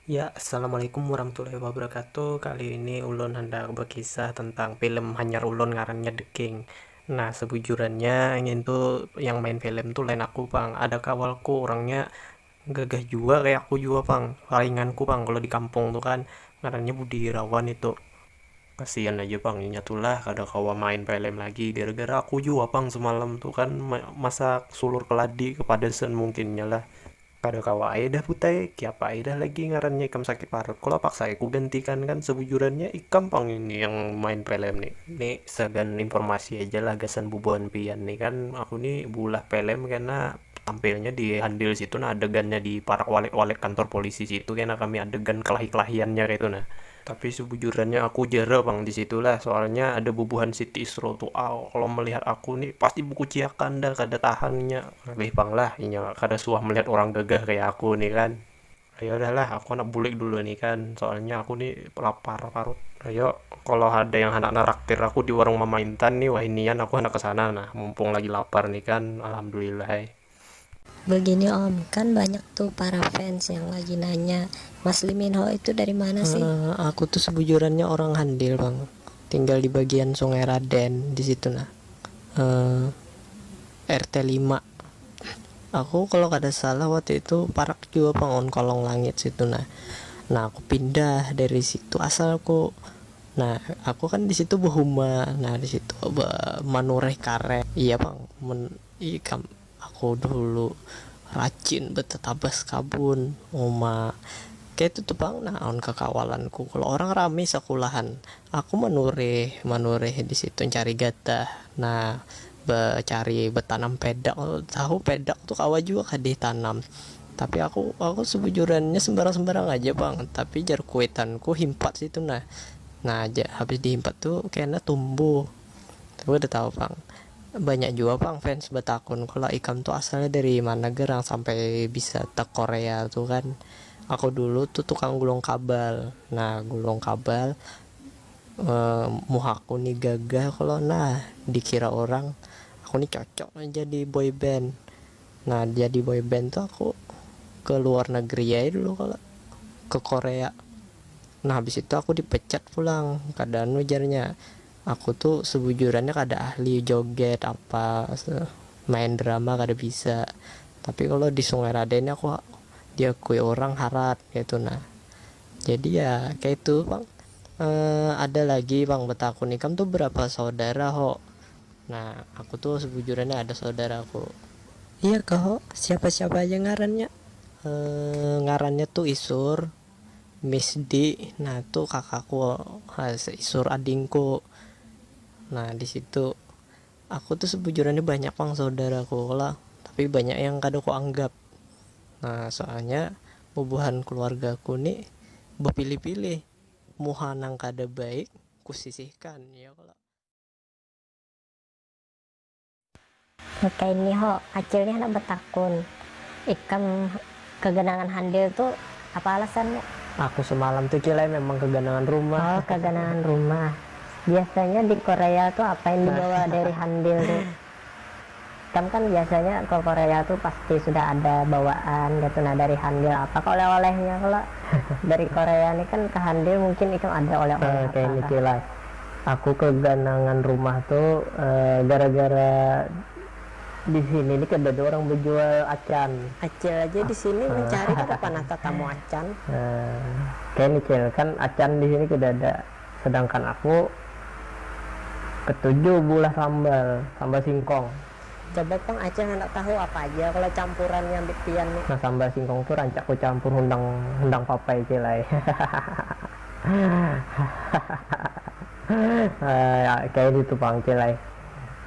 Ya, Assalamualaikum warahmatullahi wabarakatuh. Kali ini ulun handak bakisah tentang film hanyar ulun ngarannya The King. Nah, sabujurannya ngintu yang main film tu lain aku pang, ada kawalku urangnya gagah jua kaya aku jua pang, lainganku pang kalo di kampung tu kan, ngarannya Budi Irawan itu. Kasian aja pang inya tu lah kada kawa main film lagi gara-gara aku jua pang samalam tu kan masak sulur keladi kepedesan mungkinnya lah. Kada kawa ai dah Put ai, kiapa ai dah lagi ngarannya ikam sakit parut, kula paksa ai kugantikan kan, sabujurannya ikam pang ini yang main pelem ni, ni sagan informasi aja lah gasan bubuhan pian ni kan aku ni beulah pelem kena tampilnya di handil situ nah adegannya di parak walek-walek kantor polisi situ kena kami adegan kelahi-kelahiannya kaitu nah. Tapi sebujurnya aku jera pang di situ lah, soalnya ada bubuhan si Tisro tu al kalo melihat aku ni pasti bekuciakan dah kada tahan inya, lebih pang lah inya kada suah melihat orang gagah kaya aku ni kan, ayo dah lah aku handak bulik dulu ni kan, soalnya aku ni lapar parut, ayo kalo ada yang handak naraktir aku di warung mama intan ni wahinian aku handak kesana nah, mumpung lagi lapar ni kan, alhamdulillah ai. Begini om, kan banyak tuh para fans yang lagi nanya Mas Lee Min Ho itu dari mana sih? Uh, aku tuh sebujurannya orang Handil bang, tinggal di bagian Sungai Raden di situ nah. Uh, eh, RT 5 Aku kalau kada salah waktu itu parak juga bang on kolong langit situ nah. Nah aku pindah dari situ asal aku Nah, aku kan di situ berhuma. Nah, di situ manureh karet. Iya, Bang. Men Ikam, aku dulu rajin betatabas kabun, uma. Kaytu tu pang nah awan kakawalanku, kalo orang rami sakulahan, aku manurih, manurih di situ ncari gatah. Nah, bacari batanam pedak tu, tahu pedak tu kawa jua kah ditanam. Tapi aku, aku sabujurannya sambarang-sambarang aja pang, tapi jar kuitanku himpat situ nah. Nah, habis dihimpat tu kena tumbuh. Kada tahu pang. Banyak jua pang fans batakun kalau ikam tu asalnya dari mana gerang sampai bisa te korea tu kan. Aku dulu tu tukang gulung kabal, nah gulung kabal muhaku ni gagah kalo nah dikira orang aku ni cocok nih jadi boy band. Nah jadi boy band tu aku ke luar negeri ai dulu kalo, ke korea. Nah habis itu aku dipecat pulang kada anu jarnya Aku tu sebujurannya kada ahli joget apa main drama kada bisa tapi kalo di sungai raden ni aku diakui orang harat kaitu nah jadi ya kaitu pang ada lagi pang betakun ikam tu berapa saudara ho nah aku tu sebujurannya ada saudaraku. Iya kah ho siapa siapa aja ngarannya ngarannya tu isur. Miss di, nah tu kakaku seisur adingku, nah disitu aku tu sebujurannya banyak pang saudaraku lah tapi banyak yang kada ku anggap nah soalnya bubuhan keluargaku ni bepilih-pilih muha nang kada baik ku sisihkan ya kalo. Nakaini ho, Acil ni handak batakun, ikam kaganangan handil tu apa alasannya? Aku samalam tu Cil ai memang kaganangan rumah. Oh kaganangan rumah, biasanya di korea tu apa yang dibawa dari handil tu? Ikam kan biasanya ke korea tu pasti sudah ada bawaan kaitu nah dari handil apa kah oleh-olehnya kalo dari korea ni kan ke handil mungkin ikam ada oleh-oleh apa kah? Kaini Cil ai, Aku keganangan rumah tu gara gara disini ni kada ada orang bejual acan. Acil aja disini mencari kada panah tatamu acan. Kaya ni cil kan acan disini kada ada sedangkan aku ketuju beulah sambal, sambal singkong. Coba pang acil handak tahu apa aja kalo campuran nya ambit pian ni. Nah sambal singkong tu rancak ku campur hundang hundang papai cil ai. Kaya ditu pang cil ai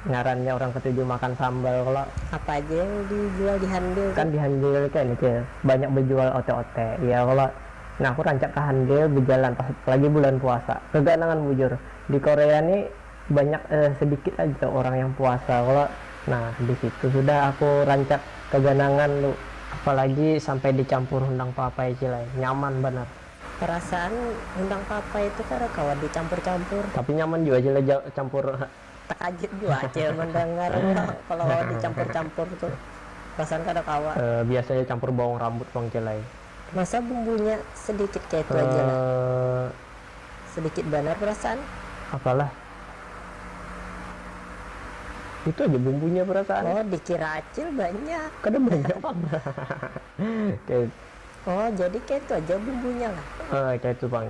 ngarannya urang ketuju makan sambal kalo. Apa aja yang dijual di handil tu? Kan di handil kene cil banyak bejual ote-ote iya kalo. Nah aku rancak ke handil bejalan pas lagi bulan puasa. Keganangan bujur, di Korea ni banyak sedikit aja orang yang puasa kalo. Nah disitu sudah aku rancak keganangan tu. Apalagi sampai dicampur hundang papai cil ai, nyaman banar. Perasaan undang papa itu kada kawa di campur campur. Tapi nyaman jua cil ja campur ha. Takajut jua cil mandangar ha kalo kawa di campur campur tu perasaan kada kawa. Biasa ja campur bawang rambut pang cil ai. Masa bumbunya sedikit kaitu aja lah. Sedikit banar perasaan. Apalah itu aja bumbunya perasaan. Oh dikira acil banyak. Kada banyak pang kaitu. Oh, jadi kaitu aja bumbunya lah. Haa, kaitu pang.